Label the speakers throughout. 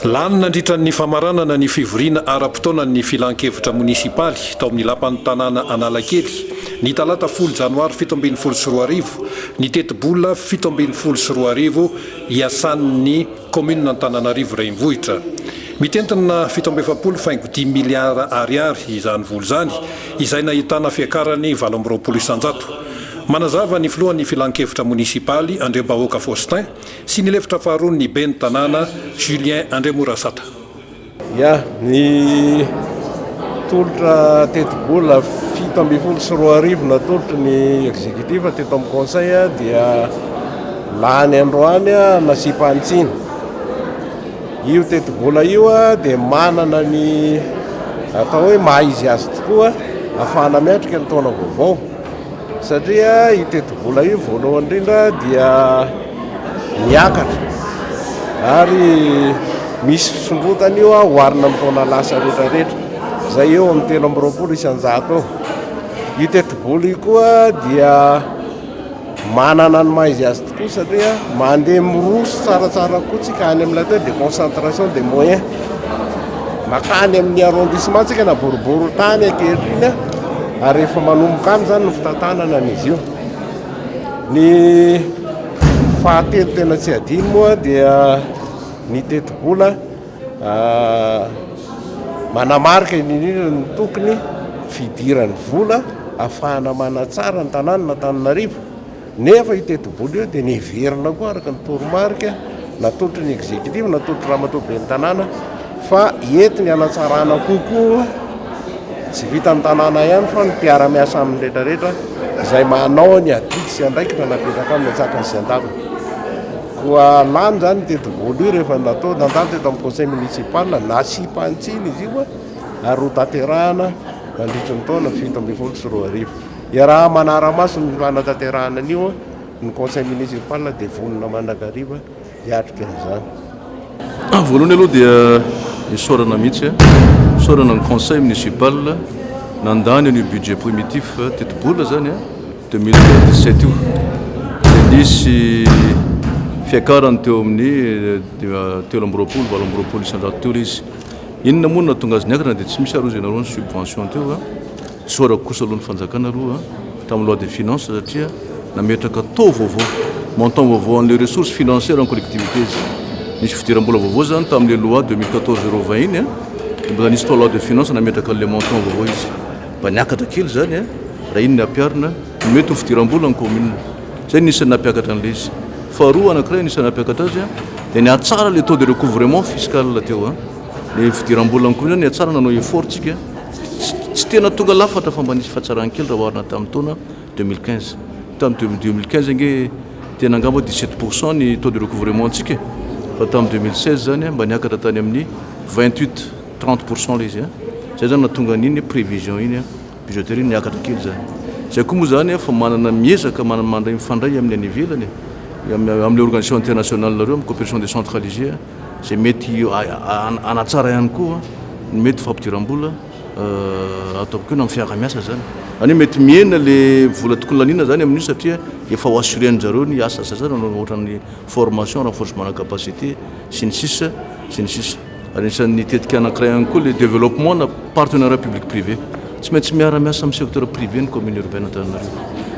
Speaker 1: Lany nandritra ny famaranana ny fivoriana ara-potoanan' ny Filan-kevitra monisipaly tao amin'ny Lapan'ny tanàna Analakely, ny talata folo janoary fito ambin'ny folo sy roa arivo, ny tetibola fito ambin'ny folo sy roa arivo iasan'ny kaominina Antananarivo Renivohitra. Mitentina fito amby efapolo faingo dimy miliara Ariary izany vola izany, izay nahitana fiakarany valo amby roapolo isanjato. Manazava ny filohan'ny Filan-kevitra monisipaly, Andriambahoaka Faustin, sy ny lefitra faharoa ny Ben'ny tanàna Julien Andriamorasata. Ya,
Speaker 2: nitolotra tetibola fito ambin'ny folo sy roa arivo natolotry ny executif teto amin'ny conseil dia lany androany nasiam-panitsiana. Io tetibola io dia manana ny atao hoe maha-izy azy tokoa ahafahana miatrika ny taona vaovao. Satria io tetibola io voalohany indrindra dia miakatra ary misy fisondrotana io ah, oharina amin'ny taona lasa rehetra rehetra izay eo amin'ny telo amby roapolo isan-jato eo. Io tetibola io koa dia manana ny maha izy azy kosa dia mandeha miroso tsaratsara koa tsika any amin'ilay teo dia concentration de moyen makany amin'ny arrondissement tsika na boribory tany ankehitriny a ary efa manomboka any zany ny fitantanana an'izy io ny fahatelo tena tsy adino moa dia ny tetibola ah, manamarika indrindra ny tokony fidiran'ny vola afahana manatsara ny tanàna na tananarivo Nefa io tetibola io dia niheverina koa araka ny toromarika natolotry ny executive, natolotry Ramatoa Ben'ny Tanàna fa entiny hanatsarana kokoa, tsy vitan'ny Tanàna ihany fa ny mpiara-miasa aminy rehetrarehetra izay manao ny adidy sy andraikitra napetraka aminy an-tsatra sy an-daviny. Koa lany izany io tetibola io rehefa natao, nandalo teto amin'ny conseil municipal, nasiam-pantsiny izy io ary ho tanterahana mandritry ny taona fito ambin'ny folo sy roa arivo. Iaraha-manara-maso ny fanatanterahana an'io ny Conseil Municipal dia vonona mandrakariva hiatrika izany.
Speaker 3: Voalohany aloha dia isaorana mihitsy, isaorana ny Conseil Municipal nandany an'io budget primitif tetibola izany 2017 io. Dia nisy fiakarany teo amin'ny telo amby roapolo, valo amby roapolo isan-jato teo ilay izy. Inona moa no nahatonga azy niakatra dia tsy misy ary hoy izy ianareo ny subvention teo. Isaorako kosa aloha ny fanjakana aloha tamin'ny loi des finances satria nametraka taux vaovao, montant vaovao an'ilay ressource financière en collectivités. Nisy fidiram-bola vaovao izany tamin'ilay loi deux mille quatorze zéro vingt iny an, dia mbola nisy tao loi de finances nametraka an'ilay montant vaovao izy. Mba niakatra kely izany an, raha iny no ampiharina ny mety ho fidiram-bolan'ny commune. Izay no anisan'ny nampiakatra an'ilay izy. Faharoa anankiray anisan'ny nampiakatra azy an, dia nihatsara ilay taux de recouvrement fiscal teo an, ilay fidiram-bolan'ny commune nihatsara nanao effort tsika. Tsy tena tonga lafatra fa mba nisy fihatsarany kely raha oharina tamin'ny taona deux mille quinze. Tamin'ny deux mille quinze ange tena angamba dix sept pour cent ny taux de recouvrement-ntsika e! Fa tamin'ny deux mille seize izany mba niakatra tany amin'ny vingt huit, trente pour cent ilay izy an! Izay izany no nahatonga an'iny prévision iny budgétaire iny niakatra kely izany. Izay koa moa izany efa manana miezaka mandray mifandray amin'ny any ivelany e! Amin'ilay organisation internationale-nareo, amin'ny cooperation décentralisée. izay mety hanatsara ihany koa ny mety fampidiram-bola ato am-peo na amin'ny fiarahamiasa izany. Izany hoe mety mihena ilay vola tokony laniana izany amin'io satria efa ho assurer-ndry zareo ny asa sasany ohatran'ny formation, renforcement-na capacité sy ny sisa sy ny sisa. Ary anisan'ny tetika anankiray ihany koa ilay développement-na. Partenariat public privé, tsy maintsy miara miasa amin'ny secteur privé ny commune urbaine Antananarivo.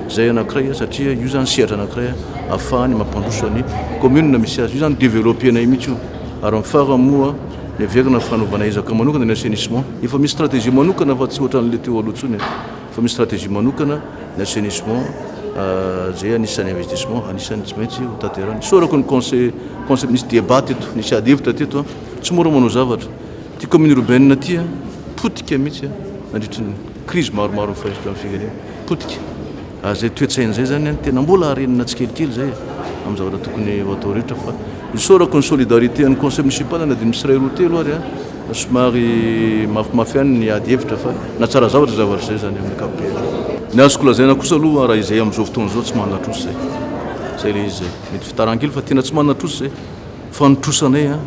Speaker 3: Izay anankiray satria io izany sehatra anankiray ahafahany mampandroso ny commune misy azy. Io izany developpena io mihitsy io. Ary amin'ny farany moa miverina fanaovana ezaka manokana ny assainissement. Efa misy stratégie manokana fa tsy ohatran'ilay teo aloha intsony. Efa misy stratégie manokana ny assainissement izay anisan'ny investissement anisan'ny tsy maintsy ho tanterahina. Isaorako ny conseil, conseil, nisy débat teto, nisy ady hevitra teto. Tsy mora manao zavatra. Ity kaominina urbaine ity a, potika mihitsy a, nandritry ny krizy maromaro nifahisy teo amin'ny firenena, potika. Ary izay toe-tsaina izay izany a, tena mbola harenina tsikelikely izay e, amin'ny zavatra tokony ho atao rehetra fa isaorako ny solidarité an'ny conseil municipal na dia misy iray roa telo ary a, somary mafimafy ihany ny ady hevitra fa nahatsara zavatra izay zavatra izay izany amin'ny ankapobeny. Ny azoko lazaina kosa aloha raha izay amin'izao fotoana izao tsy manana trosa izay, izay ilay izy izay. Mety fitarahan-kely fa tena tsy manana trosa izay, fa ny trosanay a,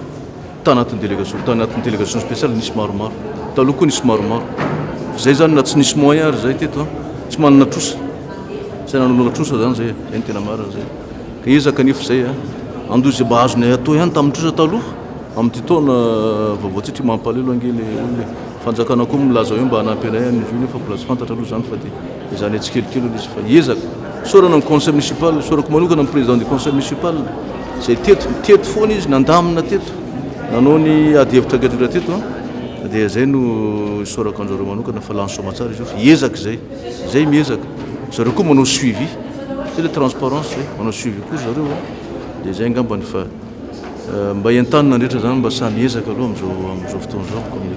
Speaker 3: Tao anatin'ny délégation, tao anatin'ny délégation spéciale nisy maromaro. Taloha koa nisy maromaro. Fa zay zany na tsy nisy moyen ary zay teto an, tsy manana trosa. Zay nanonona trosa zany zay, zay ny tena marina zay. Ka ezaka anefa zay an, andoha izay mba azonay atao ihany tamin'ny trosa taloha. Amin'ity taona vaovao tsy tri mampalelo ange le olona e. Fanjakana koa milaza hoe mba hanampy anay any ville fa mbola tsy fantatra aloha zany fa de. Izany hoe tsikelikely aloha izy fa hiezaka. Isaorana ny conseil municipal, isaorako manokana ny président du conseil municipal izay teto, teto foana izy, nandamina teto, nanao ny ady hevitra gadra teto an, dia izay no isaorako anjareo manokana fa lany soamantsara izy io fa hiezaka izay, izay miezaka, zareo koa manao suivi, izay ilay transparence izay, manao suivi koa zareo an, dia izay angambany fa mba entanina ny rehetra izany mba sahy miezaka aloha amin'izao, amin'izao fotoana izao ny commune.